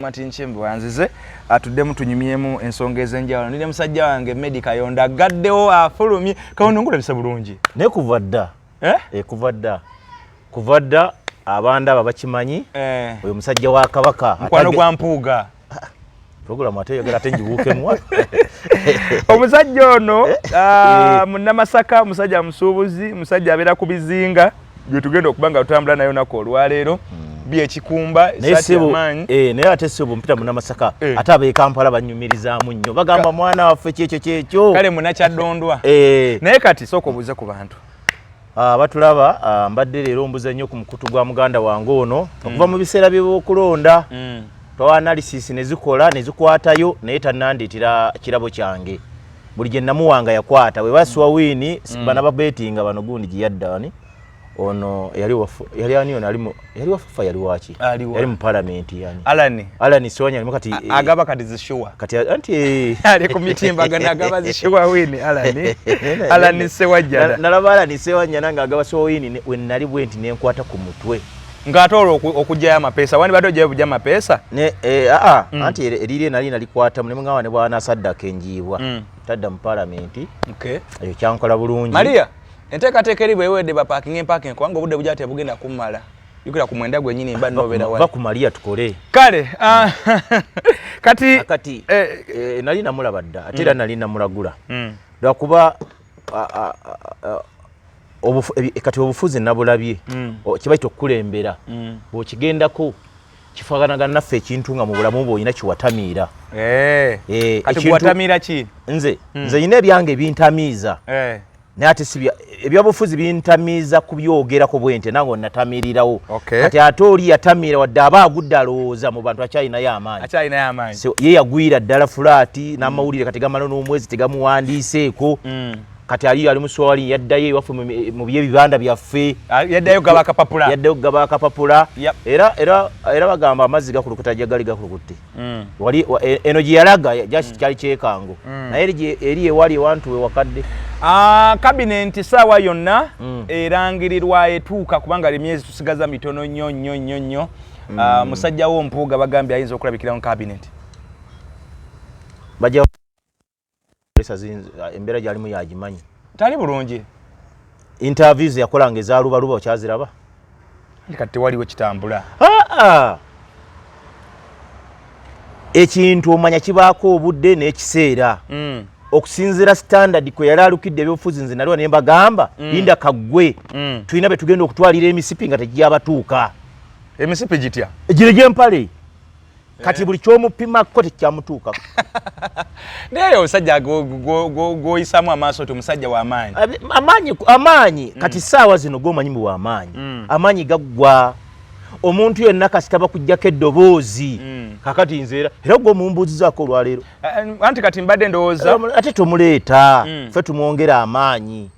Martin Nchembo anzize atuddemu tunyumyemu ensonga ez'enjawulo. Nine musajja wange Medi Kayondo aggaddewo afulumye. Kayondo ngulabisa bulungi. Ne kuva dda. Eh? E, kuva dda. Kuva dda abanda aba bakimanyi. Eh. Oyo musajja wa Kabaka. Mukwano gwa Mpuuga. Ah, Programu ate yogera ate njibuukemu. Omusajja ono eh. ah, Munnamasaka, musajja musuubuzi, musajja abeera ku bizinga. gwe tugenda okuba nga tutambula nayo nako olwaleero hmm. byekikumba esatiamaanyi eh, naye ate sebo mpita munamasaka eh. ate abekampala banyumirizaamu nnyo bagamba mwana waffe kyekyo kyekyo kale munakyaddondwa eh. naye kati sooka obuuze ku bantu Ah, batulaba ah, mbadde leero mbuza nnyo ku mukutu gwa muganda wange ono mm. okuva mu biseera byebyokulonda mm. twaanalisisi nezikola nezikwatayo naye tananditira kirabo kyange buli gye namuwanga yakwata bwe basiwa wiini mm. bana babetinga bano gundi gye yadda ani ono yali wafu yali ani ono ali yali wafufa yali waki yali mu parliament yani alani alani sonya alimu kati eh, agaba kati zishuwa kati anti eh. ali ku mitimba gana agaba zishuwa wini alani alani sewajja nalaba alani sewajja nanga agaba so wini we nali bwenti nenkwata ku mutwe nga ate olwo okugyayo amapeesa wandibadde ogyayo bugya amapeesa aa eh, ah, ah, mm. anti eriire nali nalikwatamu nemugamba ne bwana saddaka enjiibwa mm. tadda mu palamenti ekyo kyankola bulungi maria enteekateeka eri bwewedde bapakinga empakinga kubanga obudde bugya tebugenda kummala yukira ku mwenda gwenyini mba nobeera wali ku maria tukole kale ah, kati kati eh, eh, nali namulaba dda ate era mm. nali namulagula lwakuba kati obufuzi nabulabye mm. kibaita okukulembera mm. bwekigendako kifaganagana naffe ekintu nga mubulamu bwe olina kiwatamiira eh. Eh, nze mm. nze yina ebyange ebintamiiza eh. naye ate si ebyobufuzi bintamiiza kubyogerako bwente nange onatamirirawo kati ate oli yatamiira wadde aba agudde alowooza mu bantu akyalinayo amaanyi so ye yagwira ddala fulaati n'amawulire kati gamala n'omwezi tegamuwandiiseeko mm. kati aliyo ali muswali yaddayo ewaffe mu byebibanda byaffe ah, yaddayo gaba akapapula yaddayo gaba akapapula era era era bagamba amazzi gakulukuta jagali gakulukutte mm. wali e, eno gye yalaga jaki mm. kyali kyekango mm. naye eri ewali ewantu we wakadde ah, kabinenti saawa yonna erangirirwa etuuka kubanga emyezi tusigaza mitono nnyo nnyo nnyo nnyo mm. uh, musajja wo mpuuga bagambye ayinza okulabikira mu cabinet bajja ah, embeera gyalimu yagimanyi tali bulungi interviews yakola nga ezalubaluba okyaziraba kati tewaliwo kitambula ekintu omanya kibaako obudde n'ekiseera mm. okusinzira standard kwe yali alukidde ebyobufuzi nze naliwa ne mbagamba mm. linda kaggwe mm. tulina be tugenda okutwalira emisipi nga tegiyabatuuka emisipi gitya egire gyempale eh. kati buli kyomupimakko tekyamutuuka naye omusajja gwoyisamu amaaso ti omusajja wamaanyi amaanyi amaanyi mm. kati saawa zino gomanyi mu wamaanyi mm. amaanyi gaggwa omuntu yenna kasita bakujjako eddoboozi mm. kakati nze era era gwe omumbuuzizaako olwaleero eh, eh, anti kati mbadde ndowooza ate tomuleeta fe tumwongera amaanyi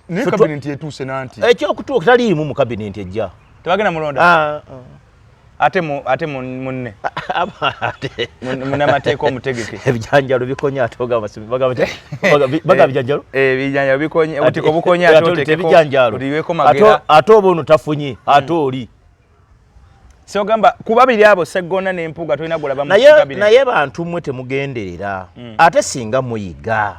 Naye kabinenti etuuse nanti. Ekyokutuuka taliimu mu kabinenti ejja. Tebagenda mulonda. Ah, ah. Ate mu ate munne. Ate munamateeka omutegeke. Ebijanjalo bikonya atoga basibi bagaba bagaba bijanjalo. Eh, eh bijanjalo bikonya otiko bukonya atote ebijanjalo. Uliweko magera. Ato ato bono tafunye. Hmm. Ato oli. Siogamba kuba biri abo seggona ne mpuga tulina gulaba mu kabiri. Naye bantu mwe temugenderera. Mm. Ate singa muyiga.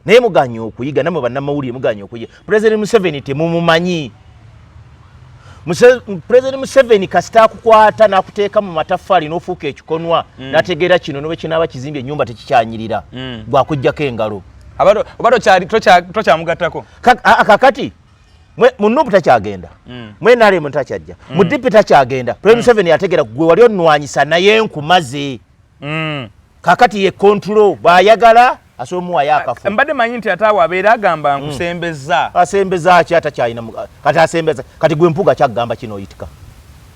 Naye muganye okuyiga namwe bannamawulire muganye okuyiga. President Museveni temumumanyi. Muse, President Museveni kasita akukwata n'akuteeka mu mataffaali n'ofuuka ekikonwa mm. n'ategeera kino n'obe kinaaba kizimbye ennyumba tekikyanyirira mm. gwakuggyako engalo. Oba tokyamugattako. Kakati. Ka, munupu takyagenda mwenalemu mm. takyajja mm. mudipi takyagenda pre mm. museveni yategera gwe wali onwanyisa naye nkumaze kakati ye control bwayagala asobola omuwayo akafu mbadde manyi nti ataawe abeera agamba nkusembeza asembeza ki atakyalina kati asembeza kati gwe mpuga kyakugamba kino oyitika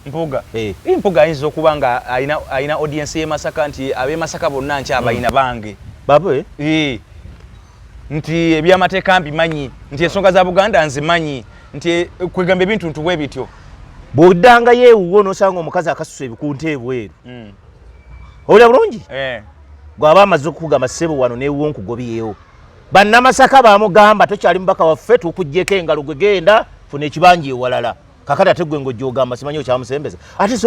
mpuga eh. mpuga ayinza okuba nga alina audiensi yemasaka nti abemasaka bonna nkyabalina bange babwe eh. nti ebyamateeka mbimanyi nti ensonga za buganda nzimanyi nti eh, kwegamba ebintu ntu bwe bityo bwoddangayo ewuwo nosanga omukazi akasusa ebikunta ebweru hmm. owulira bulungi eh. gwaba amaze okukugamba ssebo wano newuwo nkugobyewo bannamasaka bamugamba tokyali mubaka waffe tukuggyeko engalo gwegenda funa ekibanja ewalala kakati ate gwe ng'ojogamba simanyi okyamusembeza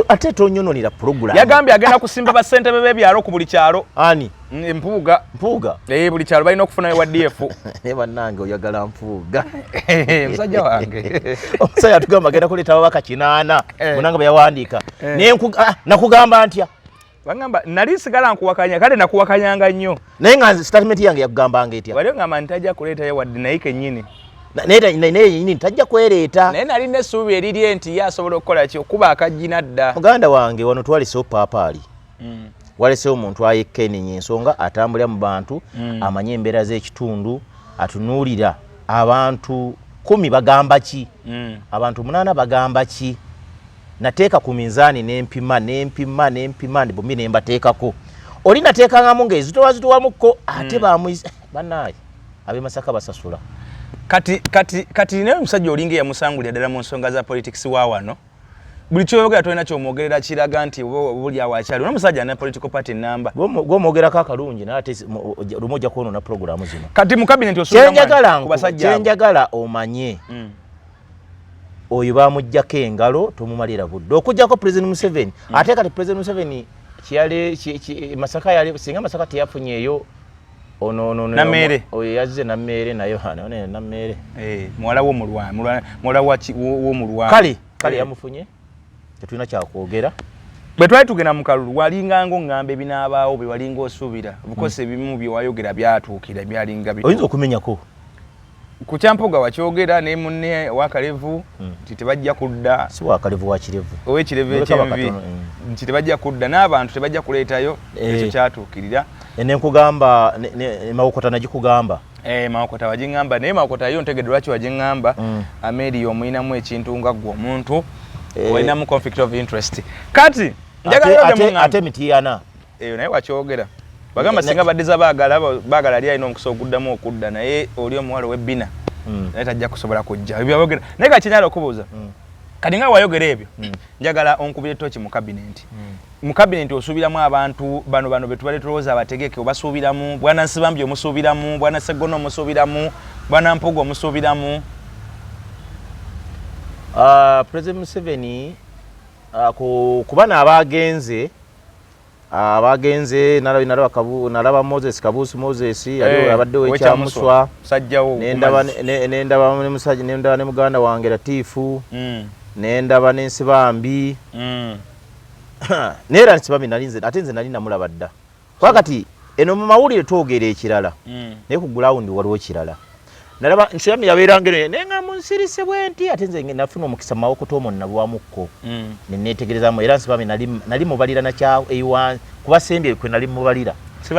ate tonyononera pulogulamu yagambye agenda kusimba bassentebe b'ebyalo ku buli kyalo ani mm, mpuuga mpuuga ee eh, buli kyalo balina okufuna ewa df naye bannange oyagala mpuuga eh, musajja wange omusajja atugamba agenda kuleeta ababaka kinaana eh. munanga bwe yawandiika naye ah, nakugamba ntya bangamba nali sigala nkuwakanya kale nakuwakanyanga nnyo naye nga statement yange yakugambanga etya wali ngamba nti tajja kuleetayo wadde naye kennyini naye yenyini tajja kwereeta naye nali nesuubi erirye nti ye asobola okukola ki okuba akajjina dda muganda wange wano twalesewo paapaali mm. walesewo omuntu ayekka enenya ensonga atambulira mu bantu mm. amanye embeera z'ekitundu atunuulira abantu kumi bagamba ki mm. abantu munaana bagamba ki nateeka ku minzaani nempima nempima nempima bombi nembateekako oli nateekangamu nga ezitowa zitowamukko ate hmm. bamuiz eh, banaye abemasaka basasula kati kati kati naye omusajja olinga eyamusangulira ddala mu nsonga za politics wa wano buli kyoyogera tolina kyomwogerera kiraga nti buli awakyali ona omusajja na political party namba gwomwogerako akalungi naye ate lumu ojja kwonona pulogulaamu zino kati mu kabinetikyenjagala omanye mm. oyo bamujjako engalo tomumalira budde okujjako president museveni mm. ate kati president museveni kiyale masaka yali singa masaka teyafunyeeyo onononamere oyo yazze namere naye hano ne namere eh mwala wo mulwa mulwa mwala wa wo mulwa kali kali eh. yamufunye tetuna cha kuogera bwe twali tugenda mu kalulu walinga ngo ngambe binabaawo bwe walinga osubira bukose hmm. bimu bye wayogera byatuukira byalinga bi oyinza okumenyako ku kyampoga wakyogera ne munne wakalevu hmm. nti tebajja kudda si wakalevu wakirevu owekirevu ekyenvi hmm. nti tebajja kudda n'abantu tebajja kuleetayo eh. ekyo kyatuukirira eh, nenkugamba mawokota nagikugamba eh, mawokota wagiŋamba naye mawokota yo ntegedde lwaki wagiŋamba hmm. ameria omuyinamu ekintu nga gwe omuntu olinamu conflict of interest kati njagalayo ate mitiyana eyo naye wakyogera bagamba singa badiza bagala bagala ali alina omukisa oguddamu okudda naye oli omuwala owebbina hmm. naye tajja kusobola kujja ebyogera naye kakinyala okubuuza hmm. kati nga wayogera ebyo hmm. njagala onkubire toki mu kabinenti mu kabinenti osuubiramu abantu bano bano betubadde tulowooza abategeke obasuubiramu bwana nsibambi omusuubiramu bwana seggona omusuubiramu bwana mpuga omusuubiramu ah, president museveni ah, ku bana abaagenze Ah, bagenze nalaba moses kabuusi moses eh, yali abadde wekyamuswa nendaba ne muganda wange latiifu mm. nendaba nensibambi mm. naye era nsibambi nalinze ate nze nali namulaba dda kuba kati eno mu mawulire twogera ekirala mm. naye ku gulawundi waliwo kirala nalaba nsirami yabeeranga eno naye nga munsirise bwenti ate nze nafuna omukisa mu mawokota omwo nalwamukko mm. ne neetegerezamu era nsibami nali mubalira nakya eiwa kuba sembye kwe nali mubalira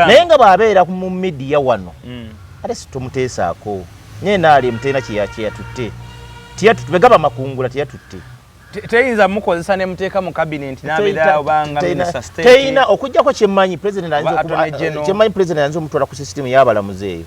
naye nga bw'abeera mu midiya wano mm. ate situmuteesaako naye naali emutena kyeyatutte tegaba makungula teyatutte teyinza mukozesa ne muteeka mu kabineti nabeera obanga minisita state teyina okujjako kyemmanyi president ayinza okutwala ku sisitimu y'abalamuzi eyo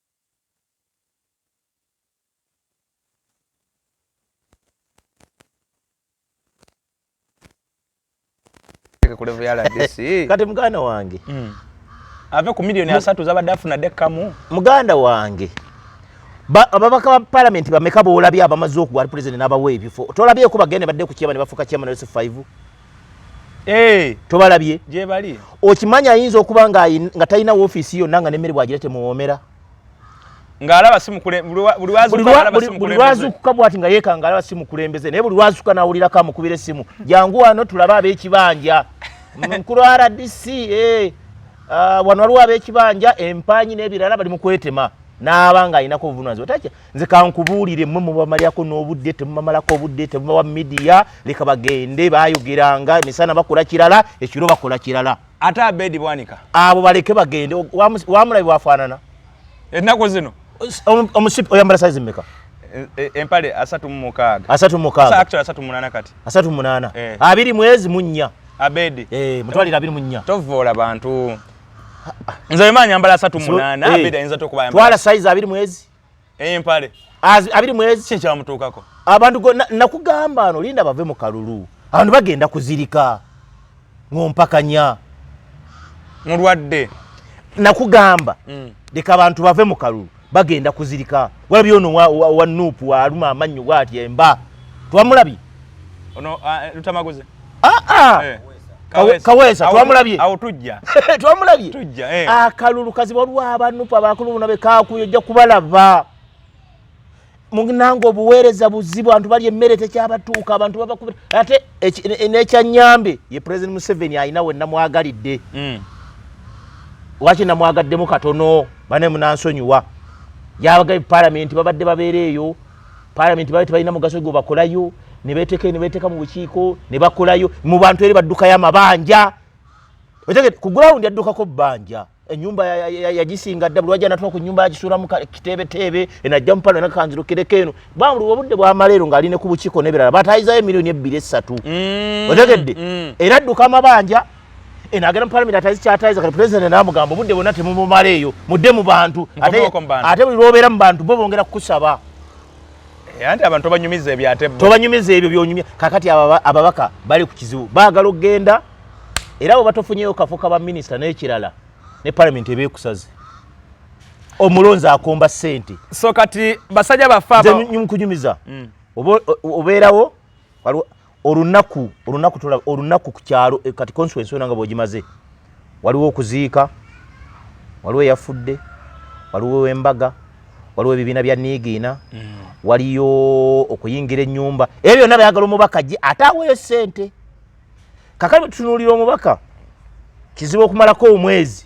kati muganda wange hmm. ave ku milioni asatu zabadde afuna dekamu muganda wange ababaka ba palamenti bameka boolabye abamaze okuwa pulezidenti n'abawa ebifo tolabyeko bagende badde ku kyema ne bafuuka kyema ne yosef 5 Eh. tobalabye gyebali okimanyi ayinza okuba nga talina wofiisi yonna nga nemmere bwagira temuwoomera ng'alaba simukbuli lwazuukuka bwati nga yeeka ng'alaba si mukulembeze naye buli lwazuuka n'awulira ka mukubira essimu jangu wano tulabe ab'ekibanja mukulu rdc eh, ah, wano waliwo ab'ekibanja empaanyi n'ebirala bali mu kwetema n'aba ng'alinako obuvunanyizibwa nze kankubuulire mwe mubamalyako n'obudde temubamalako obudde temubawa midiya leka bagende bayogeranga emisana bakola kirala ekiro bakola kirala ate abedi bwanika abo baleke bagende wamulabi bwafaanana ennaku zino omusipi oyambala saizi meka e, e, empale asatu mumukaaga asatu mumukaaga asatu munaana kati asatu munaana eh. abiri mwezi munnya abedi eh, mutwalire abiri munnya tovoola bantu nze bemanyambala asatu munaana eh. abedi ayinza tokubayambala twala saizi abiri mwezi empale abiri mwezi kye kyamutuukako abantu nakugamba ano linda bave mu kalulu abantu bagenda kuzirika ngompakanya mulwadde nakugamba mm. leka abantu bave mu kalulu bagenda kuzirika walabye ono wa nuupu waluma amannyo waatya emba twamulabye Ono ah, eh, lutamaguze. Ah ah. Eh. Kawesa twamulabye. Awo tujja. Twamulabye. Tujja eh. Akalulu kazi waliwo abanupa abakulu buno be kakuyo ojja kubalaba. Munango obuweereza buzibu abantu bali emmere tekyabatuuka abantu baba kubira ate n'ekyanyambe ye President Museveni alina we namwagalidde. Mm. Waki namwagaddemu katono bane munansonyiwa. Yabaga palamenti babadde babeera eyo. parliament bali tebalina mugaso gwo bakolayo nebeteka nebeteka mu bukiiko nebakolayo mu bantu eri baddukayo amabanja otegede ku ground yaddukako bbanja enyumba yagisinga dda bulwaja natula ku nyumba yagisulamu kiteebeteebe enajja mupalo nakanzirukireko eno bamuli obudde bwamaleero ngaali ne ku bukiiko nebirala batayizayo emiliyoni ebbiri essatu mm, otegedde mm. era adduka amabanja eno agenda mu palamenti atazikyatayiza kati pulezidenti namugamba obudde bwonna temumumala eyo mudde mu bantu ate buli lwobeera mu bantu bo bongera kukusaba eh, anti abantu tobanyumiza ebyo ate tobanyumiza ebyo byonyumya kakati ababaka bali ku kizibu baagala okugenda era bwe batofunyeyo kafo ka baminisita n'ekirala ne palamenti ebeekusaze omulonzi akomba ssente so kati basajja baffe nkunyumiza mm. obeerawo olunaku olunaku tula olunaku kukyalo eh, kati consequence yona nga bojimaze waliwo okuziika waliwo yafudde waliwo embaga waliwo ebibiina bya niigiina mm. waliyo okuyingira ennyumba ebyo byonna byagala omubaka gye ate aweeyo ssente kakati bwetutunuulira omubaka kizibu okumalako omwezi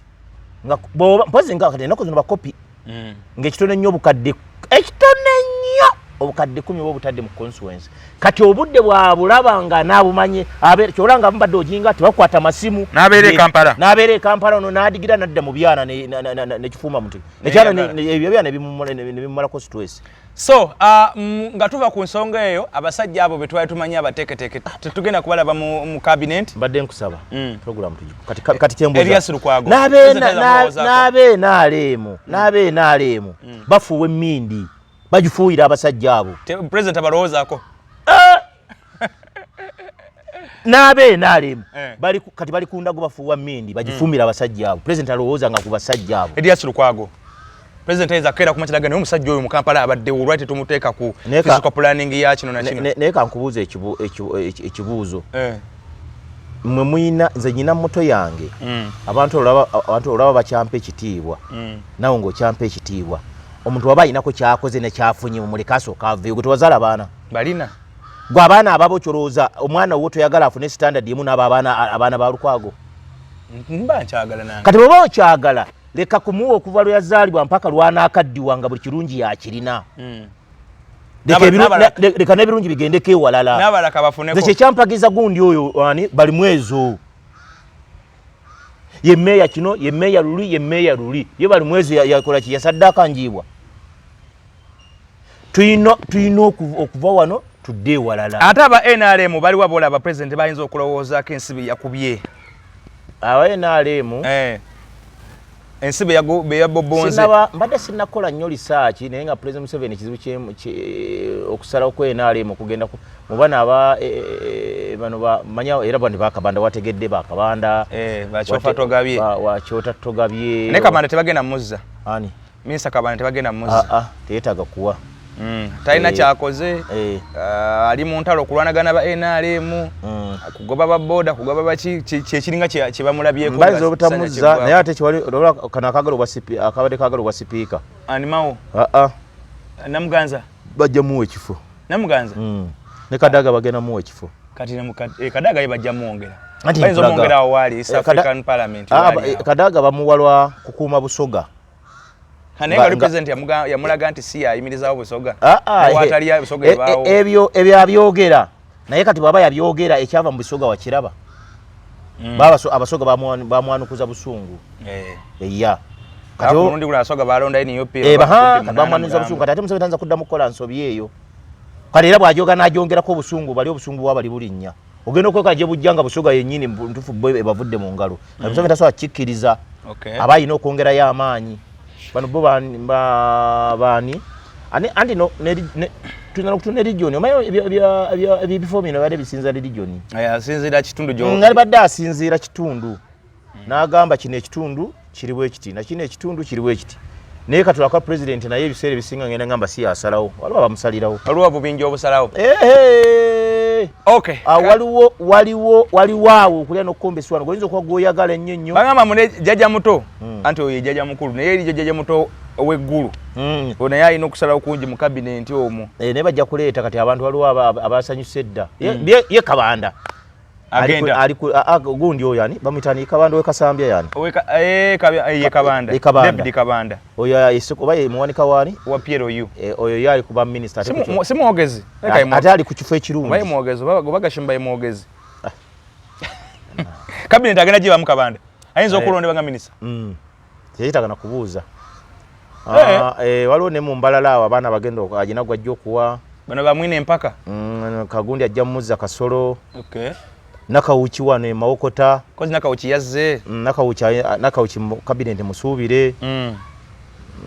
nga boba mpozi nga kati enako zino bakopi mm. nga ekitone nnyo obukadde ekitone nnyo obukadde kumi oba obutadde mu consuence kati obudde bwabulaba nga nabumanye kyola nga mubadde ojinga tebakwata masimu nabeera ekampala nabeera ekampala ono nadigira nadda mu byana nekifuuma muti ekyana ebyo byana nebimumalako stress so uh, nga tuva ku nsonga eyo abasajja abo betwali tumanyi abateketeke tetugenda kubalaba mu, mu cabinet mbadde nkusaba mm. program kati, kati kyembuzaeriasulukwago nabeena aleemu mm. nabeena aleemu mm. bafuuwa emmindi bagifuuyira abasajja abo president abalowoozaako nabe nalem eh. bali kati bali kunda go bafuwa mindi bajifumira mm. abasajja abo president alowooza nga kubasajja abo Elias Lukwago president ayinza kera kuma kiraga naye omusajja oyo mu Kampala abadde olwati tumuteeka ku physical planning ya kino na kino naye kankubuuza ekibuuzo eh. mwe muyina nze nyina muto yange mm. abantu olaba abantu olaba bakyampa ekitiibwa mm. nawe ng'okyampa ekitiibwa omuntu waba ayinako kyakoze nekyafunye mumuleka asooka aveyo gwe tewazala baana balina gwe abaana ababo kyolowooza omwana wo toyagala afune standard emu naabo abaana ba lukwago kati bweba okyagala leka kumuwa okuva lwe yazaalibwa mpaka lwanaakaddiwa nga buli kirungi yakirina hmm. leka n'ebirungi bigendeko ewalalaze kyekyampagiza gundi oyo ani bali mwezo ye meeya kino ye meeya luli ye meeya luli ye bali mwezo yakolaki yasadde akanjiibwa tulina okuva wano tudde ewalala ate aba nrm baliwa bolaba president bayinza okulowoozaako ensi beyakubye aba nrm eh. ensi beyabobonzeba mbadde sinakola nnyo lisaaki naye nga president museveni kizibu okusalawo ku nrm okugenda mubana aba eh, eh, bano bamanya era bani bakabanda wategedde bakabanda wakyota togabye ne kabanda tebagenda muzza ani Mister Kabanda tebagenda muzi. Ah ah, teyetaga kuwa. Mm. Talina eh. kyakoze. Eh. Uh, ali mu ntalo kulwanagana ba NRM. Mm. Kugoba ba boda, kugoba ba ki kyekiringa kye kye bamulabye ko. Mbazo obutamuza, naye ate kiwali odola kana kagalo wa CP, akabade kagalo wa speaker. Ani mawo? Ah ah. Namuganza. Bajja mu ekifo. Namuganza. Mm. Ne kadaga bagena mu ekifo. Kati ne mukad, eh, kadaga ye bajja mu ongera. Kati ne mukad, eh, kadaga bamuwalwa kukuuma busoga. yamulaga nti si yayimirizawo busoga ah, ah, eh, wataliyo busoga eh, ebaawo eh, ebyo ebyo abyogera naye kati bwaba yabyogera ekyava mu busoga wakiraba mm. baba abasoga bamwanukuza busungu eya katimundi gula asoga balonda ini yopi eh baha bamwanukuza busungu kati ate musoga tanza kudda mukola nsobi eyo kale era bwajoga najongerako obusungu bali obusungu bwabali bulinnya ogenda okweka gye bujja nga busoga yennyini ntufu bo ebavudde mu ngalo mm. museveni tasobola kikkiriza aba alina okwongerayo amaanyi bano bo baani anti tulina okutu ne region omaye ebifo bino bade bisinzira region asinzira kitundu ngalibadde asinzira kitundu mm. n'agamba kino ekitundu kiri bwe kiti na kino ekitundu kiri bwe kiti naye katula kwa president naye ebiseera ebisinga ngenda ngamba si asalawo waliwo abamusalirawo waliwo obubinja obusalawo ah, waliwo waliwo waliwo awo okulya nokukomba eswano goyinza okuba gwoyagala ennyo nnyo bagamba mune jjaja muto hmm. anti oyo jjaja mukulu naye erijo jjaja muto oweggulu hmm. naye alina okusalawo kungi mu kabinenti omwo eh, naye bajja kuleeta kati abantu waliwo abasanyusa edda hmm. ye kabanda agenda ali ku gundi oyo yani bamutani kabanda we kasambya yani we ka eh kabya eh, ye kabanda e kabanda deputy kabanda oyo ya isiko baye muwani kawani wa piero yu e, oyo yali kuba minister ate simu simu ogezi eka imu ate ali ku kifo ekirungi baye muogezi baba gobaga shimba ye muogezi ah. cabinet agenda jiba mukabanda ayinza eh. okulonde banga minister mm. teyetaaga na kubuuza eh. Ah, eh, waliwo ne mu mbalala awo abaana bagenda agina gwajja okuwa bano bamwine empaka mm, kagundi ajja mumuzza kasolo okay. nakawuki wano emawokota kozi nakawuki yazze mm, nakawuki, nakawuki kabineti musuubire mm.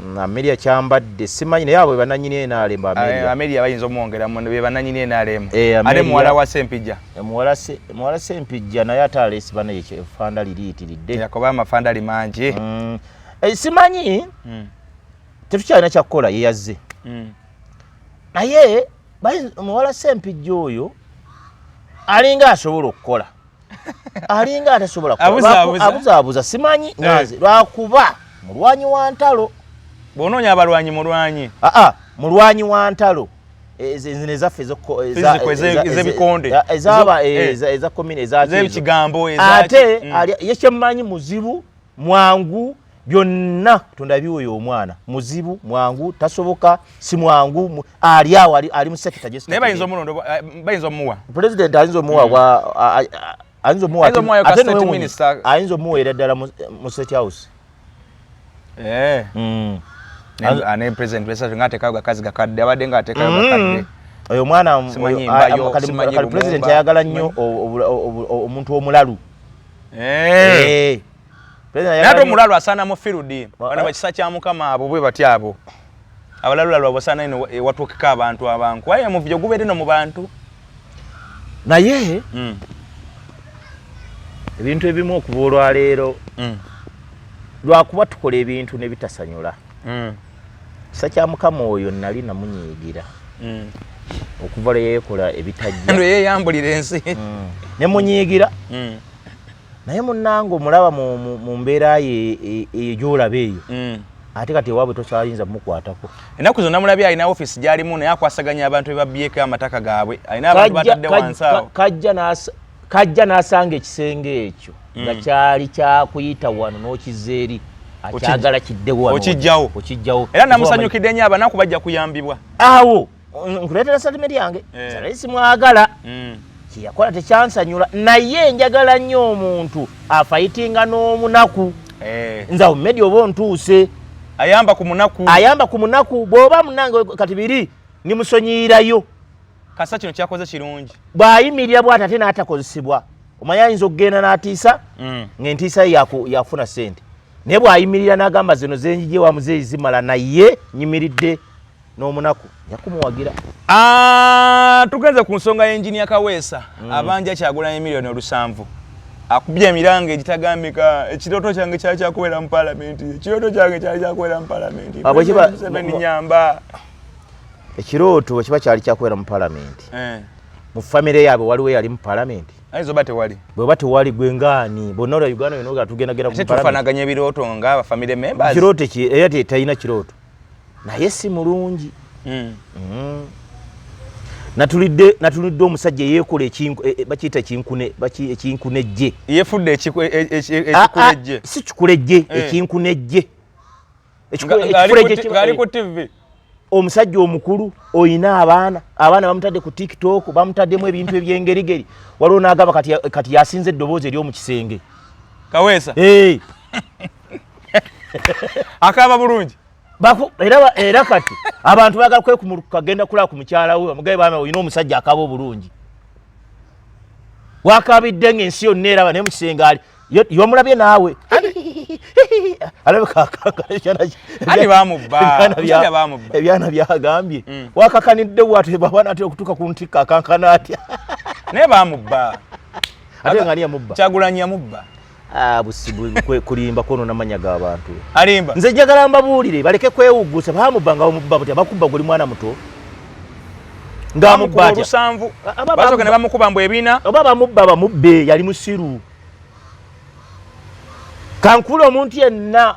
mm. ameria kyambadde simanyi naye abo bebananyini enalemba ameria eh, bayinza omwongeramu bebananyini enalemba eh, ate muwala wa sempija muwala sempijja naye ate aleesi bana yefanda liriitiridde yakoba amafandali mangi mm. eh, simanyi mm. tetukyalina kyakukola yeyazze mm. naye muwala sempijja oyo alinga asobola okukola alinga atasobola abuzaabuza simanyi naze eh. lwakuba mulwanyi wa ntalo bwonoonya abalwanyi mulwanyi aa ah, ah, mulwanyi wa ntalo ezaffe ezebikonde ezakigambo ate ye kyemmanyi muzibu mwangu byonna katonda biwoyo omwana muzibu mwangu tasoboka si mwangu ali awo ali musekita naye bayinza omuwa pulezidenti ayinza omuwa ayinza omuwa ayinza omuwa ate state minister ayinza omuwa era dala mu state house eh mm ane president wesa nga ateka ga kazi gakadde abade nga ateka mm. gakadde oyo mwana oyo kali president ayagala nnyo omuntu omulalu eh, eh. nate omulalu asaana mu firudi bana eh. bakisa kya mukama abo bwe bati abo abalalulalu abasaana ino ewatuukika abantu abanku aye omuvujo gubeere no mu bantu naye hmm. ebintu ebimu okuva olwaleero hmm. lwakuba tukola ebintu ne bitasanyula hmm. kisa kya mukama oyo nali namunyiigira okuva lwe yeekola ebitajja lwe yeeyambulira ensi ne munyiigira naye munange omulaba mu mbeera ye e, eyo gyolaba eyo mm. ate kati ewaabwe tokyayinza mukwatako ennaku zonna mulabye alina ofiisi gyalimu naye akwasaganya abantu bebabyeko amataka gaabwe alina abantu batadde wansi awo kajja n'asanga ekisenge ekyo mm. nga kyali kyakuyita wano n'okiza eri akyagala kiddewo okijjawo era namusanyukidde nyo abanaku bajja kuyambibwa awo nkuleetera satimenti yange eh. salali simwagala mm. kyeyakola tekyansanyula naye njagala nnyo omuntu afayitinga n'omunaku eh. nze awo mumedi oba ontuuse ayamba ku munaku ayamba ku munaku bw'oba munange kati biri nimusonyiyirayo kasa kino kyakoze kirungi bw'ayimirira bwati ate n'atakozesebwa omanya ayinza okugenda n'atiisa mm. ng'entiisa ye yakufuna ssente naye bw'ayimirira n'agamba zino zenjije wamuzeeyi zimala naye nyimiridde n'omunaku yakumuwagira ah, tugenze ku nsonga y'enginia kaweesa mm. abanja kyagulanyi miliyoni olusanvu akubye emiranga egitagambika ekirooto kyange kyali kyakubeera mu palamenti ekirooto kyange kyali kyakubeera mu palamenti museveni nyamba ekirooto bwekiba kyali kyakubeera mu palamenti eh. mu famire yaabwe waliwo eyali mu palamenti ayinza oba tewali bweba tewali gwe ngaani bonna olwa uganda yona tugendagenda kufanaganya ebirooto nga abafamire members kirooto ki era talina kirooto naye si mulungi mm. Mm. natulidde natulidde omusajja yekola ekinku e, e, bakiyita ekinkune baki ekinkunejje yefudde ekikulejje ah, ah, si kikulejje eh. ekinkunejje ekikulejjeali ku tv eh. omusajja omukulu oyina abaana abaana bamutadde ku tiktok bamutaddemu ebintu ebyengerigeri waliwo nagamba kati yasinza eddoboozi ery'omu kisenge kaweesa eh. akaaba bulungi era era kati abantu bagala kwekumuluka kagenda kulaba ku mukyala we omugaye baana olina omusajja akaba obulungi wakabidde nga ensi yonna eraba naye mukisenge ali yomulabye naawe ebyana byagambye mm. wakakanidde bwat bwaba natera okutuuka ku ntikka akankana atya naye bamubba ate nga ani yamubba kyagulanyi yamubba Ah, kulimba kwono namanya ga bantu alimba nze njagala mbabuulire baleke kwewuggusa bamubba nga bamubba butya bakubba guli mwana muto ngamubba olusanvu basoka ne bamukuba mbu ebina oba bamubba bamubbe yali musiru kankula omuntu yenna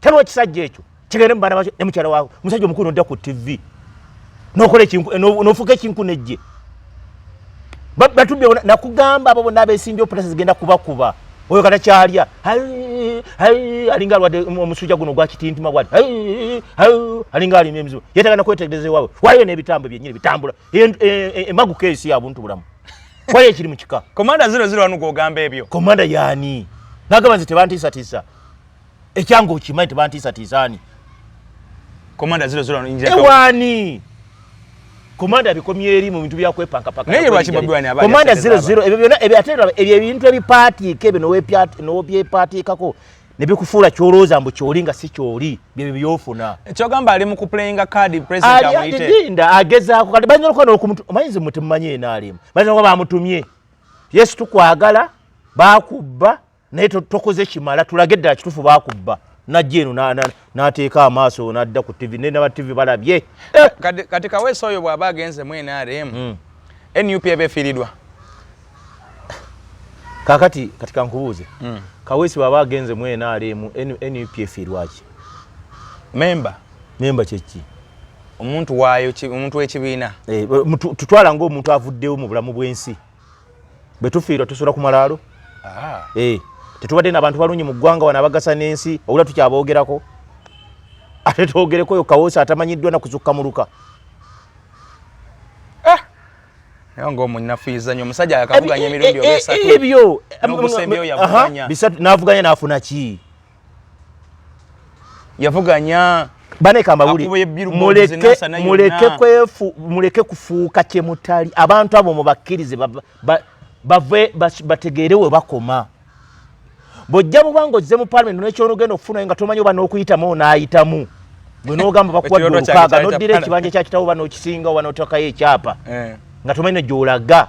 taliwo kisajja ekyo kigende mubana bakyo ne mukyala wawe omusajja omukulu nodda ku tv nokola nofuuka ekinku nejje batubye nakugamba abo bonna abesinja oputasi zigenda kubakuba oyo kata kyalya alinga alwadde omusujja guno gwakitintima bwati alinga alima emizibu yetaga nakwetegereza ewawe waliyo n'ebitambo byenyini bitambula emaguka e, e, e, esi yabuntu bulamu waliyo ekiri mu kika komanda ziro ziro wanu gwogamba ebyo komanda yani nagamba nze tebantiisatiisa ekyanga okimanyi tebantiisa tiisaani komanda ziro ziro injira ewani komanda bikomye eri mu bintu byakwepanka paka naye lwaki bobi wani abali komanda ziro ziro ebyo byona ebyo atera ebyo ebintu ebipati kebe no wepiat no bye pati kako ne bikufuula kyolooza mbu kyoli nga si kyoli byebyo byofuna ekyogamba ali mu kuplayinga kadi president amuyite alinda agezaako kati bayinza okuba n'okumutu omanyizi muti mumanyi enaalimu bayinza okuba bamutumye yesu tukwagala bakubba naye tokoze kimala tulage ddala kitufu bakubba najja eno nateeka amaaso nadda ku tv naye naba tv balabye eh, kati kaweesa oyo bwaba agenze mu nrm hmm. nup eba efiiridwa kakati kati kankubuuze hmm. kaweesi bwaba agenze mu nrm nup efiirwaki memba memba kyeki omuntu waayo omuntu w'ekibiina eh, tutwala ngaomuntu avuddewo mu bulamu bw'ensi bwe tufiirwa tusula ku malaalo ah. eh, tetubadde nabantu balungi mu ggwanga wano abagasa n'ensi obula tukyaboogerako ate twogereko oyo kawoosi atamanyiddwa nakuzukka muluka ah! ngaomunafuizanyo omusajja yakavuganya emirundi oesatuebyo bisatu navuganya nafuna ki yavuganya muleke kufuuka kyemutali abantu abo mubakkirize bave bategeere we bakoma bwojja buba nga ozze mu palamenti nekyonogenda okufunayo nga tomanyi oba n'okuyitamu onaayitamu gwe n'ogamba bakuwadde olukaaga noddira ekibanja kya kitawo oba n'okisinga oba n'otakayo ekyapa eh. nga tomanyi negyolaga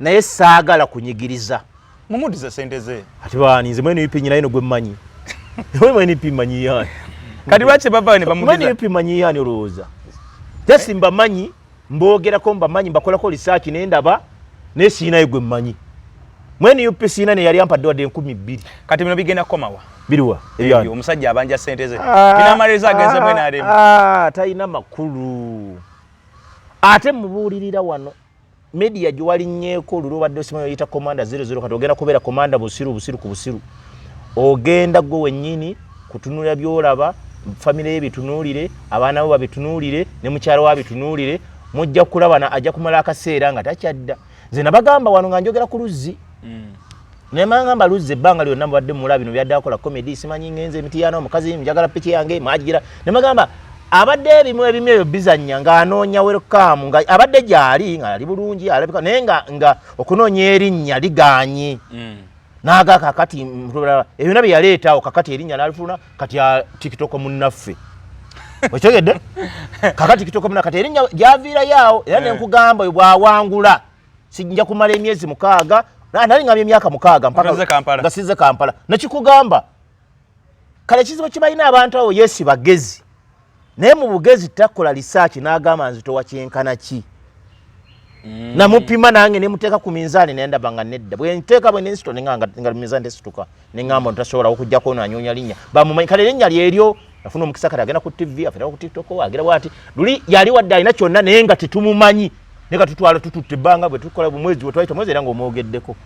naye saagala kunyigiriza mumudize sente ze ati baani nze mwene yupi nyinaye nogwe mmanyi owe mwene yupi mmanyi yaani kati lwaki bavayo ne bamudiza mwene yupi mmanyi yaani olowooza jasi mbamanyi mboogerako mbamanyi mbakolako lisaaki naye ndaba naye siinayo gwe mmanyi mwene yupi siina ne yali ampadde wadde enkumi bbiri kati bino bigenda kukomawa biriwa ebyani omusajja abanja sente ze ah, bino amarezo agenze ah, mwene aremu ah, talina makulu ate mubuulirira wano media gye walinnyeko luli obadde osima yoyita komanda 00 kati ogenda kubeera komanda busiru busiru ku busiru ogenda gwe wennyini kutunula byolaba famire ye bitunuulire abaana bo babitunuulire ne mukyala wa bitunuulire mujja kulabana ajja kumala akaseera nga takyadda nze nabagamba wano nga njogera ku luzzi mm. naye mangamba luzza ebbanga lyonna mubadde mula bino byadde akola comedy simanyi ngenze emitiyaana omukazi njagala piki yange mwagigira ne magamba abadde ebimu ebimu ebyo bizannya ng'anoonya welkam nga abadde gyali nga ali bulungi alabika naye nga nga okunoonya erinnya liganye mm. naaga kakati ebyona bye yaleetawo kakati erinnya nalifuna kati a tikitoko munnaffe okitegedde kakati kitoko munnaffe kati erinnya gyaviirayo awo era eh. nenkugamba oyo bwawangula sijja kumala emyezi mukaaga nali ngambye emyaka mukaaga nga size kampala nekikugamba kale ekizibu kibalina abantu awo yesi bagezi naye mu bugezi takola lisaaki n'agamba nzitowa kyenkana ki mm. namupima nange nemuteeka ku minzaani nendaba nga nedda bwenteeka bwenensito nenga nga minzaani tesituka ne ŋŋamba nti tasobola okujjako ono anyoonya linnya bamumanyi kale linnya lyeryo afuna omukisa kati agenda ku ttivi afirako ku tiktok agira bwati luli yali wadde alina kyonna naye nga tetumumanyi naye nga tutwala tututte ebbanga bwe tukola bumwezi bwe twayita mwezi era ng'omwogeddeko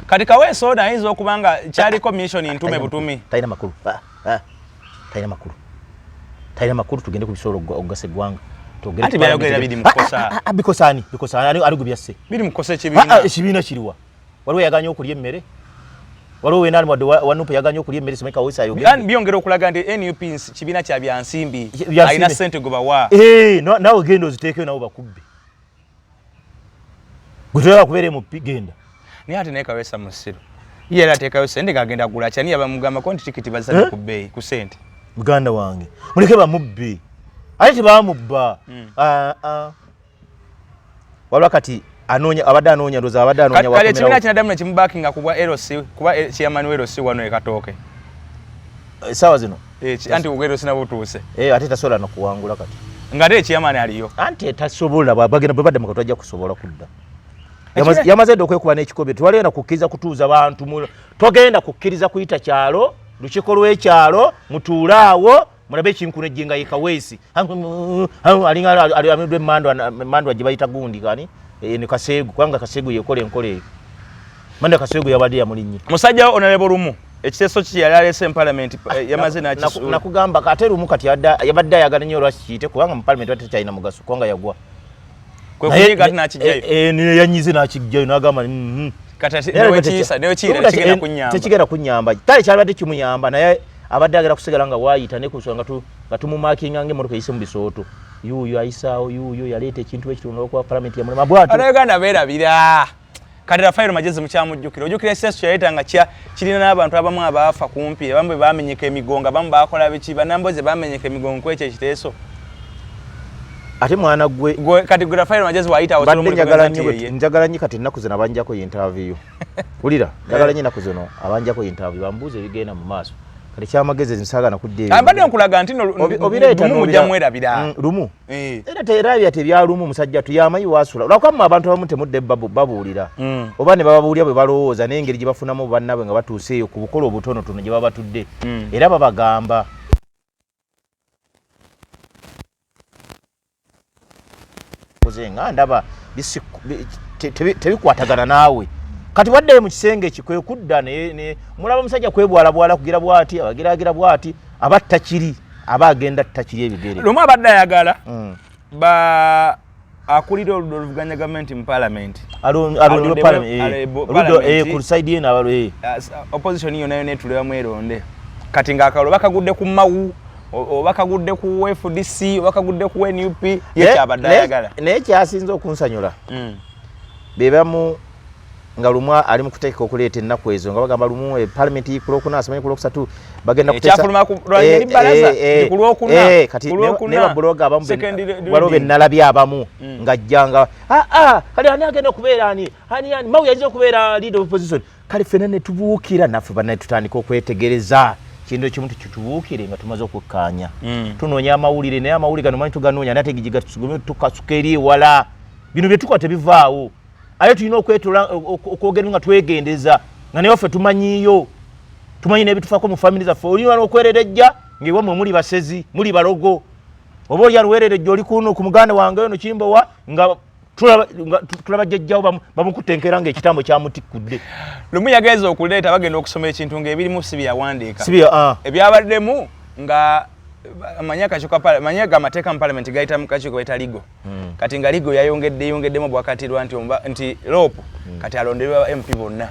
kati kaweesa ono ayinza okuba nga kyaliko mission ntume butumi talina makulu ah, ah. talina makulu talina makulu tugende ku bisobola okugasa eggwanga bikosaani bikosaani ali gwe byasse ekibiina kiriwa waliwo yaganye okulya emmere waliwo wenali wadde wanup yaganye okulya emmere simeka wesi ayogedde byongera okulaga nti nup kibiina kya byansimbi alina sente gwe bawa eh, nawe genda oziteekeyo nawe bakubbe gwe toyala kubeera emupi genda naye ate naye kawesa musiru ye era ateekayo sente ng'agenda gula kyani yabamugambako nti tikiti bazisana eh? ku bbeeyi ku sente muganda wange muleke bamubbi ate tebamubba hmm. ah, ah. wabula kati anoonya abadde anoonya ndoza abadde anoonya wakati kale kibina kinadamu ne kimubakinga kubwa LC kuba eh, chairman wa LC wano ekatooke eh, sawa zino eh anti ugero sina butuuse eh ate tasola no kuwangula kati ngate chairman aliyo anti tasobola babagenda babadde mukatu ajja kusobola kudda yamaze ndo kwekuba n'ekikobe twalena kukkiriza kutuuza bantu togenda kukkiriza kuyita kyalo lukiko lw'ekyalo mutuulaawo mulabe ekinkuna ejjenga ye kaweesi alinga amidwa emandwa gye bayita gundi kani e, ne kaseegu kubanga kaseegu yekola enkola eyo manda kaseegu yabadde yamulinnye musajja wo onalebo lumu ekiteeso ki yali aleese mu palamenti eh, ah, yamaze nakisuulnakugamba ate lumu kati yabadde ayagala nnyo olwaki kiyite kubanga mu palamenti batekyalina mugaso kubanga yagwa yanyize nakijjayo nagamba mm-hmm. tekigenda kunyamba kale kyalibadde kimuyamba naye abadde agera kusigala nga wayita nekusua nga tumumakinga nga emotoka eyise mu bisooto yuuyo ayisaawo yuuyo yaleeta ekintu ekitunda okuwa palamenti yamulema bwatanauganda berabira kati rafairo magezi mukyamujjukira ojjukira ekiseeso kyeyayita nga kya kirina n'abantu abamu abaafa kumpi abamu bwe bamenyeka emigongo abamu baakola biki banamboze bamenyeka emigongo ku ekyo ekiteeso ate mwana gwe kati gwe rafairo magezi wayitawo njagala nnyo kati ennaku zino abanjako yintaviyu wulira njagala nnyo ennaku zino abanjako yintaviyu bambuuza ebigenda mu maaso kati kyamagezi nsaagana kudda ebyo mbadde nkulaga nti no obireeta lumu mujja mwerabira mm, lumu Eh. era terabya tebyalumu musajja tuyamanyi wasula lwakwamma abantu abamu temudde babuulira mm. oba ne bababuulira bwe balowooza n'engeri gye bafunamu bannabwe nga batuuse eyo ku bukola obutonotono gye baba batudde mm. era babagamba nga ndaba tebikwatagana naawe kati wadde mu kisenge ki kwe kudda mulaba omusajja kwebwalabwala kugira bwati abagiragira bwati abatta kiri aba agenda takiri ebigere lumu abadde ayagala mm. ba akulira oludo oluvuganya gavumenti mu palamenti alondebwepalamentisaidi yena abalo opposition yona yona etuleba mweronde kati ngaakalo bakagudde ku mawu oba kagudde ku fdc oba kagudde ku nup yekyabadde ayagala naye kyasinza okunsanyula mm. bebamu nga lumu ali mu kuteeka okuleeta ennaku ezo nga bagamba lumu e palamenti yikulwokuna asomanyi kulwokusatu bagenda kutesababuloga abamubaliwo benalabye abamu mm. nga jjanga aa ah, ah, kale ani agenda okubeera ani ani ani mawu yayinza okubeera leader of opposition kale fena netubuukira naffe banaye tutandika okwetegereza kintu ekimu tukitubuukire nga tumaze okukkaanya mm. tunoonya amawulire naye amawulire gano manyi tuganoonya naye ategijiga tusugumye tukasuka eri ewala bino byetukola tebivaawo aye tulina okwetola okwogera nga twegendeza nga naye waffe tumanyiyo tumanyi nebitufako mu famiry zaffe olina nokwererejja ngewe mwe muli basezi muli balogo oba oli alwererejja oli kuno ku muganda wange ono kimbowa nga tulaba jjajjawo bamukutenkera nga ekitambo kyamutikudde lumu yagenza okuleeta bagenda okusoma ekintu ngaebirimu si byeyawandiika ah. ebyabaddemu nga amanyi akakiiko amanyi ga amateeka mu palamenti gayita mu kakiiko baita ligo hmm. kati nga ligo yayongedde yongeddemu bwakatirwa nti omba nti lopu hmm. kati alondebwe ba mp bonna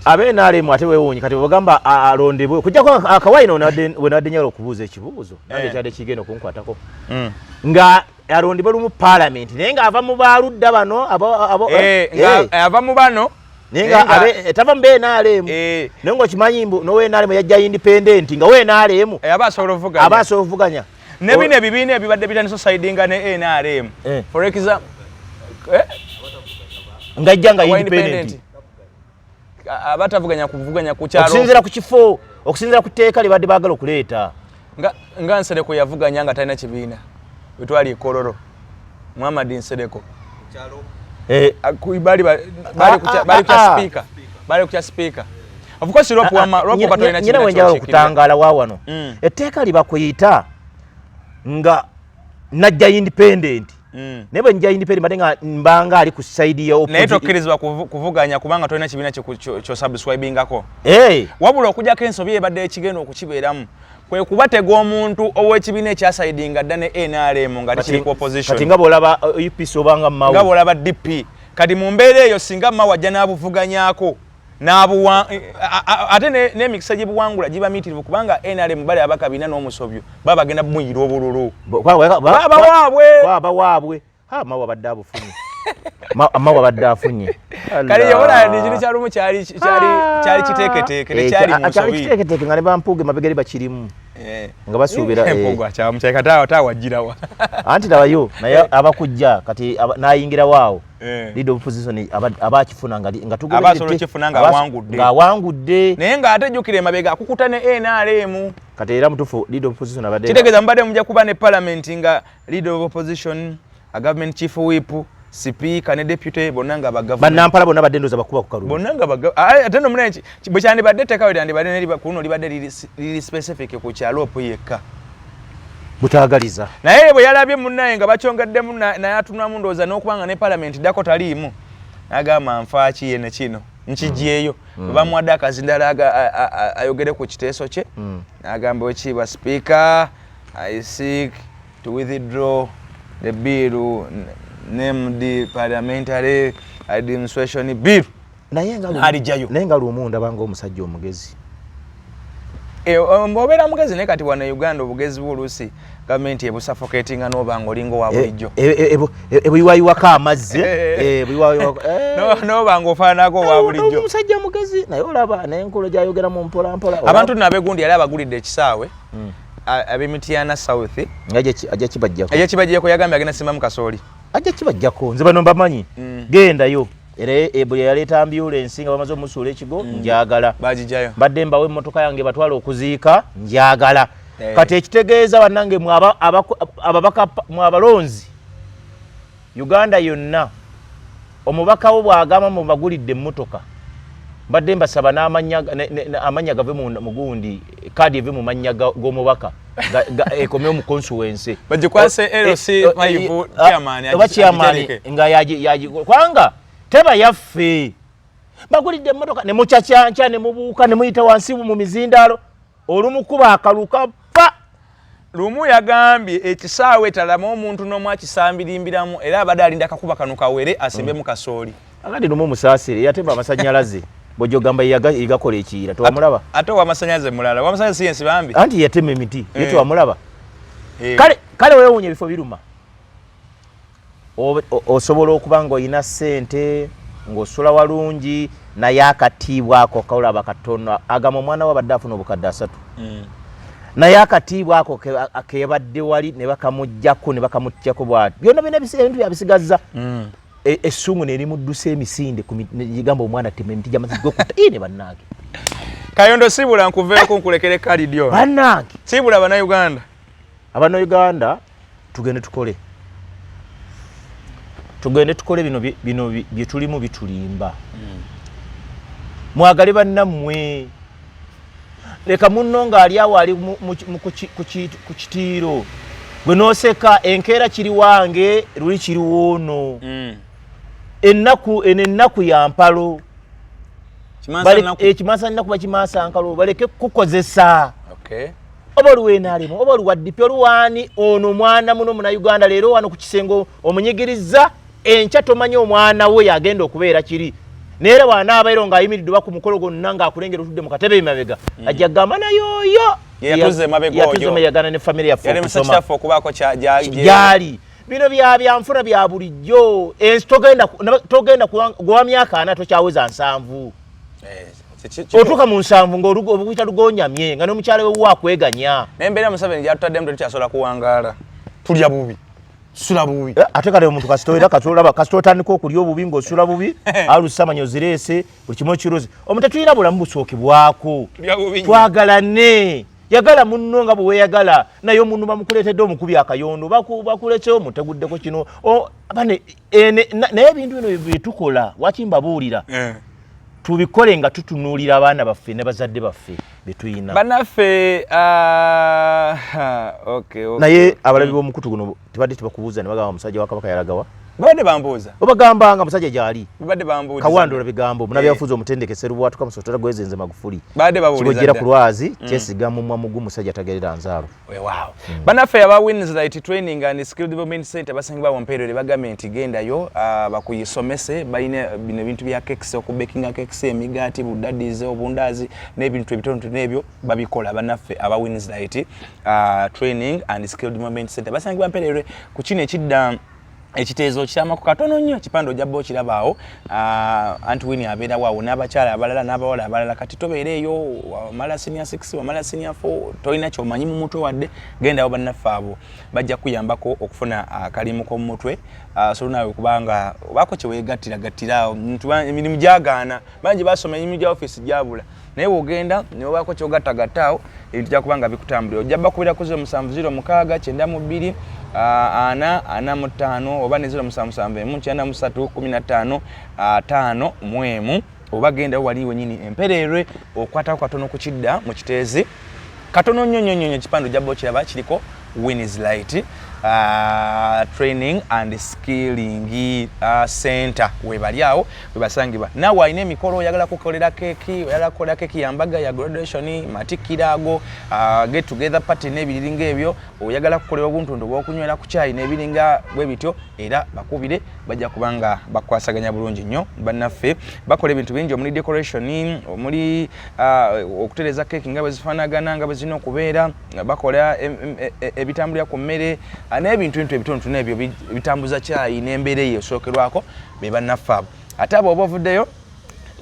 abe nalemu ate wewunyi kati bwebagamba alondebwe kujjako akawaino wenabadde nyala okubuuza ekibuuzo nange eh. kyadde kigenda okunkwatako hmm. nga alondebwe lumu palamenti naye nga ava mu baludda bano eh, eh, ava mu bano ninga abe eh, tava mbe nalemu eh. nengo kimanyi mbu no we nalemu yajja independent nga we nalemu eh, aba solo vuganya aba solo vuganya ne bino ebibiina ebibadde bitandisa osaidinga ne nrm eh. for example eh? ngajja nga independent abatavuganya kuvuganya ku kyalo okusinzira ku kifo okusinzira ku teeka libadde bagala okuleeta nga nga nsereko yavuganya nga talina kibiina wetwali ekololo Muhammad Nsereko eh, bali ah, ah, kukya ah, speaker bali kukya speaker of course rope wama rope bato ina china wenja okutangala wa wano mm. etteeka libakuyita nga najja independent mm. naye bwenja independent bade nga mbanga ali ku side ya naye tokkirizibwa kuvuganya kubanga tolina kibiina kyo subscribingako hey. Eh. wabula okujako ensobi ebadde ekigenda okukibeeramu kwe kubatega omuntu ow'ekibiina ekyasaidinga dda ne nrm nga tikiri ku opposition kati nga bw'olaba uh, upc obanga mawa nga bw'olaba dp kati mu mbeera eyo singa mawa ajja n'abuvuganyako n'abuwa ate n'emikisa gye buwangula giba miitirivu kubanga nrm bali abakabina n'omusobyo baba bagenda bumuyira obululu babawaabwe ha mawa badde abufunye amma wabadde afunye kale yabona ndi kino kyalumu kyali kyali ah. kyali kiteketeeke ne eh, kyali mu sobi kiteketeeke ngale bampuge mabegere bakirimu eh. nga basuubira eh, empugu acha mchai katawa tawa jirawa anti nabayo naye abakujja kati nayingira wao leader of position abakifuna nga nga tugende abasolo kifuna nga wangudde nga wangudde naye nga ate jukire mabega akukuta ne NRM kati era mutufu leader of position abadde kitegeza mbadde mujja kuba ne parliament nga Leader of opposition, a government chief whip, sipiika ne deputy bonna nga banampala bonna badde ndoza bakuba ku kalulu bonna nga ate no munanki bwe kyandibadde ettekawe lyandibadde neri kuno libadde liri specific ku kyaloopu yekka butagaliza naye bwe yalabye munnaye nga bakyongeddemu naye atunulamu ndowooza n'okuba nga ne palamenti ddako taliimu nagamba nfaaki ye ne kino nkigyeyo mm. mm. bamuwadde akazindala ayogere ku kiteeso kye mm. nagamba wekiibwa sipiika I seek to withdraw the bill named parliamentary administration bill naye nga alijayo naye nga lumu ndaba nga omusajja omugezi e, um, obeera mugezi naye kati wano e uganda obugezi bwo oluusi gavumenti ebusafoketinga noba nga olinga owa e, bulijjo ebuyiwayiwako amazzi noba nga ofaananako owa bulijjo omusajja mugezi naye olaba naye enkolo gyayogeramu mpolampola abantu nabegundi yali abagulidde ekisaawe hmm. abe Mityana South ajja kibajjako ajja kibajjako yagambye agenda simba mu kasooli ajja kibajjako nze bano mbamanyi mm. gendayo era ebuli yaleeta ambulensi nga bamaze omusuula ekigo mm. njagala bagijayo mbadde mbawo emmotoka yange batwala okuziika njagala eh. kati ekitegeeza bannange mwabalonzi Uganda yonna omubaka wo bw'agamba mubagulidde emmotoka mbadde mbasaba n'amanya gave mugundi kaadi eve mu mannya g'omubaka ekomewo mu consuwense bagikwase lc eh, eh, mayivu eh, ah, kyamaani oba kyamaani nga kubanga teba yaffe bagulidde emmotoka ne mucacyanca ne mubuuka ne muyita wansi mu mizindaalo olumukuba akaluka pa lumu yagambye ekisaawe talama omuntu n'omu akisambirimbiramu era abadde alinda akakuba kano kawere asimbemu kasooli agandi lumu musaasire yatemba amasanyalaze bwejogamba yegakola ekiyira tewamulaba ate owamasanyalaze mulala owamasanyalaze si yensi bambi anti yatema emiti ye eh. tewamulaba eh. kale wewunya ebifo biruma osobola okuba ng'olina ssente ng'osula walungi naye akatiibwa ako kaolaba katono agamba omwana we abadde afuna obukadde asatu mm. naye akatiibwa ako kebadde wali ne bakamuggyako ne bakamutyako bwati byonna byona ebintu byabisigazza mm. e, essuumu nerimuddusa emisinde gamba omwana tema emiti gyamazzi gokuta i ne bannange kayondo sibula nkuveeko nkulekere kalidyo bannange sibula banauganda abanauganda tugende tukole tugende tukole bino bino byetulimu bitulimba hmm. mwagale bannammwe leka munno ng'ali awo ali ku kitiiro gwe noseka enkeera kiri wange luli kiriwoono hmm. ennaku eno ennaku ya mpalo ekimasa eh, nnaku bakimaasa nkalo baleke kukukozesa oba oluwenalemu oba oluwaddipi oluwaani ono mwana muno muna uganda leero wano ku kisengo omunyigirizza enkya tomanya omwana we yagenda okubeera kiri nayeera wanaabaero ngaayimiridde oba ku mukolo gonna ngaakulengera otudde mu katebe emabega mm. ajja kugamba nayooyo yatuzemeyagana ne famiry yaffeokubakojaali bino bya byanfuna bya bulijjo ensi togenda gwa myaka ana tokyaweza nsanvu otuuka mu nsanvu ngaobuyita lugonyamye nga nomukyala wewe akweganya naye mbeera museveni gyatutaddemu tetukyasobola kuwangaala tulya bubi sula bubi eh, ate kale omuntu kasitoera katolaba kasita otandika okulya obubi ngaosula bubi alusamanya ozireese buli kimu ekirozi omuntu tulina bulamu busookebwako twagalane yagala munno nga bweweyagala naye omuntu bamukuleetedde omukubi akayondo bakuletsewo muteguddeko kino naye ebintu bino byetukola wakimbabuulira eh. tubikole nga tutunuulira abaana baffe ne bazadde baffe betuyina banaffe ah, naye abalabi mm. b'omukutu guno tebadde tebakubuuza ne bagamba omusajja wa kabaka yalagawa babadde bambuuza obagamba nga musajja gyali babadde bambuuza kawandola bigambo munabyafuzi eh. omutendeke serubwatuka musotera gwezenze magufuli kibojjera ku lwazi mm. kyesiga mumwa mugu musajja tagerera nzaalo wewaawo hmm. banaffe aba winslight training and skill development center basangibwa wampeerere bagambye nti gendayo uh, bakuyisomese balina bino ebintu bya kekisi okubekinga kekisi emigaati budadize obundaazi n'ebintu ebitonotono ebyo babikola banaffe aba winslight uh, training and skill development center basangibwa mpeerere ku kino ekidda ekiteezo kyamako katono nnyo ekipande ojja bba okirabaawo ah, anti wini abeerawo awo n'abakyala abalala n'abawala abalala kati tobeera eyo wamala sinia 6 wamala sinia 4 tolina kyomanyi mu mutwe wadde gendawo bannaffe abo bajja kuyambako okufuna akalimu ah, k'omu mutwe ah, solo naawe kubanga obaako kyeweegattira gattira emirimu gyagaana bangi basoma emirimu gya ofiisi gyabula naye wogenda newobaako kyogattagatta awo ebintu jakuba nga bikutambulira ojja bakubira ku 0706 kyenda mu bbiri ana ana mu ttaano oba ne 07 emu kyenda mu ssatu kumi na ttaano ataano mu emu oba gendawo wali wenyini empereerwe okwatako katono ku kidda mu kiteezi katono nnyo nnyo nnyo ekipande ojja bba okiraba kiriko wins light uh, training and skilling uh, center webali awo webasangibwa nawe alina emikolo oyagala kukolera keki oyagala kukolera keki yambaga ya graduation matikira ago uh, get together party nebiriringa ebyo oyagala kukolera obuntundu bwokunywera ku kyayi nebiringa bwe bityo era bakubire bajja kuba nga bakwasaganya bulungi nnyo bannaffe bakola ebintu bingi omuli decoration omuli uh, okutereza keeki nga bwe zifaanagana nga bwe zirina okubeera bakola e, e, ebitambulira ku mmere uh, n'ebintu bintu ebitontono ebyo bitambuza kyayi n'embeera eyo esookerwako be bannaffe abo ate abo oba ovuddeyo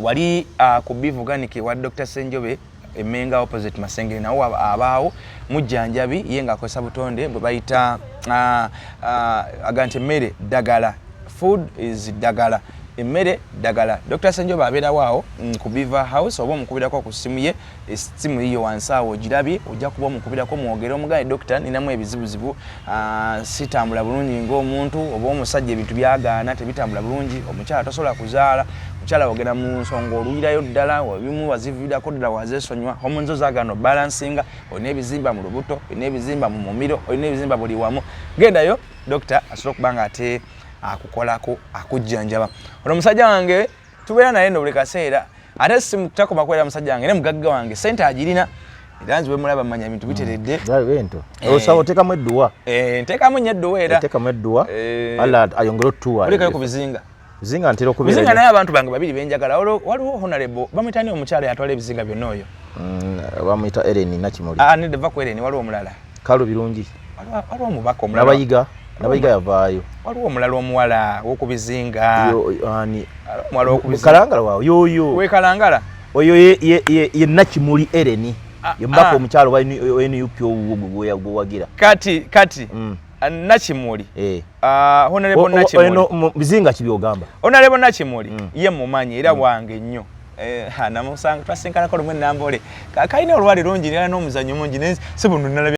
wali uh, ku bivuganike wa dr senjobe emenga opposite masengere nawo abaawo mujjanjabi ye nga akozesa butonde bwe bayita ah, ah, aga nti emmere ddagala food is ddagala emmere ddagala dr senjoba abeerawo awo mm, ku biva house oba omukubirako ku ssimu ye essimu yiyo wansi awo ogirabye ojja kuba omukubirako mwogere omugane dokita ninamu ebizibuzibu Ah, sitambula bulungi ng'omuntu oba omusajja ebintu byagaana tebitambula bulungi omukyala tosobola kuzaala mukyala wogera mu nsonga oluyirayo ddala ebimu waziviirako ddala wazesonywa homonzo zagaana obalansinga olina ebizimba mu lubuto olina ebizimba mu mumiro olina ebizimba buli wamu gendayo dokita asobola okuba nga ate akukolako akujjanjaba ono omusajja wange tubeera naye nobuli kaseera ate simu takoma kubeera musajja wange ne mugagga wange sente agirina era nziwe mulaba manya ebintu mm. biteredde bento eh. osaba otekamu edduwa eh, ntekamu nyo edduwa era otekamu edduwa eh. alla ayongere otutuwa olikayo ku bizinga bizinga ntera okubeera bizinga naye abantu bange babiri benjagala waliwo honarebo bamuyita ni omukyala yatwala ebizinga byonna oyo mm, bamuyita ereni nakimuli ah, nedeva ku ereni waliwo omulala kalu birungi waliwo omubaka omulalabayiga nabayiga yavaayo waliwo omulala omuwala wokubizinga kalangala wawo yoyo wekalangala oyo ye nakimuli ereni ah, yemubaka ah. omukyalo wa nup owuwo gwewagira kati kati mm. ah, nakimuli eh. honorable nakimuli bizinga kibyogamba honorable nakimuli mm. ye mumanyi era mm. wange nnyo Eh, namusanga twasinkanako lumu enambole kalina olwali lungi nera nomuzanyo mungi naye sibuno nalabye